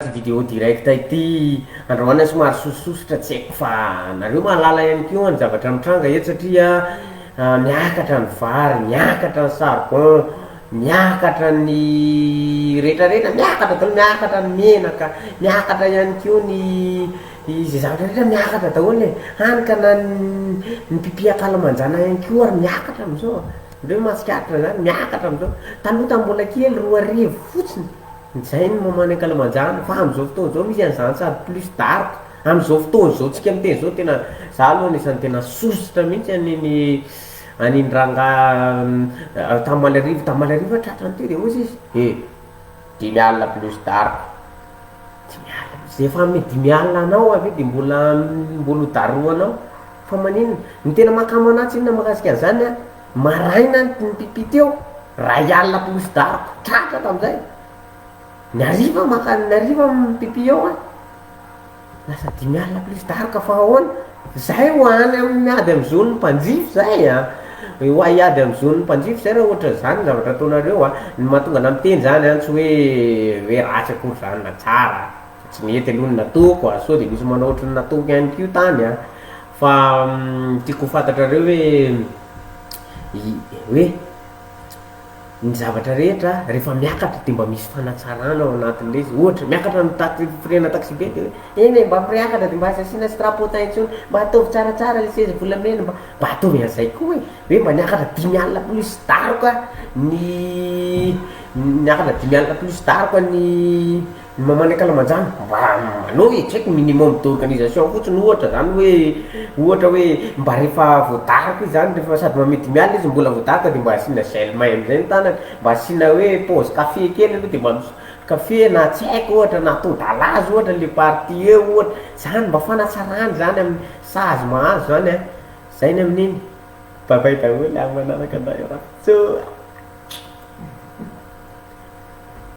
Ity vidéo direct ity andrahoana somary sosososotra tsy haiko fa nareo mahalala ihany koa ny zavatra mitranga eto satria miakatra ny vary, miakatra ny charbon, miakatra ny retraretra, miakatra daholo, miakatra ny menaka, miakatra ihany koa ny izay zavatra rehetra miakatra daholo e, hany ka na ny mpipia ankalamanjana ihany koa ary miakatra amin'izao, nareo mahatsikaritra an'izany? Miakatra amin'izao, taloha tamin'ny mbola kely roa arivo fotsiny. Izay ny moment ny ankalamanjana fa amin'izao fotoana izao misy an'izany sady plus dark amin'izao fotoana izao tsika miteny izao tena za aloha anisany tena sosotra mihitsy an'iny an'iny rangahy tany Maliarivo tany Maliarivo tratrany teo de hoy izy he dimy alina plus dark dimy alina plus efa amin'ny dimy alina any ho avy eo de mbola mbola ho darohanao fa maninona ny tena mahakamo anah tsinona mahakasika an'izany an Maraina ny mpipipi teo, ray alina plus daroka, tratra tamin'izay. Ny hariva maka ny hariva mipipi eo an! Lasa dimy alina plus daroka fa ahoana? Zay ho any amin'ny ady amin'ny zon'ny mpanjifa izay an! Ho ahy ady amin'ny zon'ny mpanjifa izay raha ohatra izany ny zavatra ataonareo an! Ny mahatonga anah miteny izany an, tsy hoe hoe ratsy akory izany na tsara, fa tsy mety aloha ny nataoko an! Sao dia misy manao ohatry ny nataoko ihany koa tany an! Fa tiako ho fantatrareo hoe i, hoe ny zavatra rehetra rehefa miakatra dia mba misy fanatsarana ao anatin'ilay izy, ohatra miakatra ny tax- firenana taxibe dia hoe eny e mba mireakatra dia mba aza asiana strapotin intsony, mba ataovy tsaratsara ilay seza volamena, mba mba ataovy an'izay koa e, hoe mba niakatra dimy alina plus daroka ny niakatra dimy alina plus daroka ny Ny maman'ny ankalamanjana mba manao e, tsy haiko, minimum d'organisation fotsiny ohatra zany hoe, ohatra hoe mba rehefa voadaraka izy zany, rehefa sady mamidimiala izy no mbola voadaraka de mba asiana gel may am'zay ny tanany, mba asiana hoe paozy café kely aloha de mba mis- café na tsy haiko ohatra na atody à l'azy ohatra le partie eo ohatra, zany mba fanatsarany zany amin'ny sazy mahazo zany an, zay ny amin'iny, bye bye daholo a manaraka anao iaraha, tso a.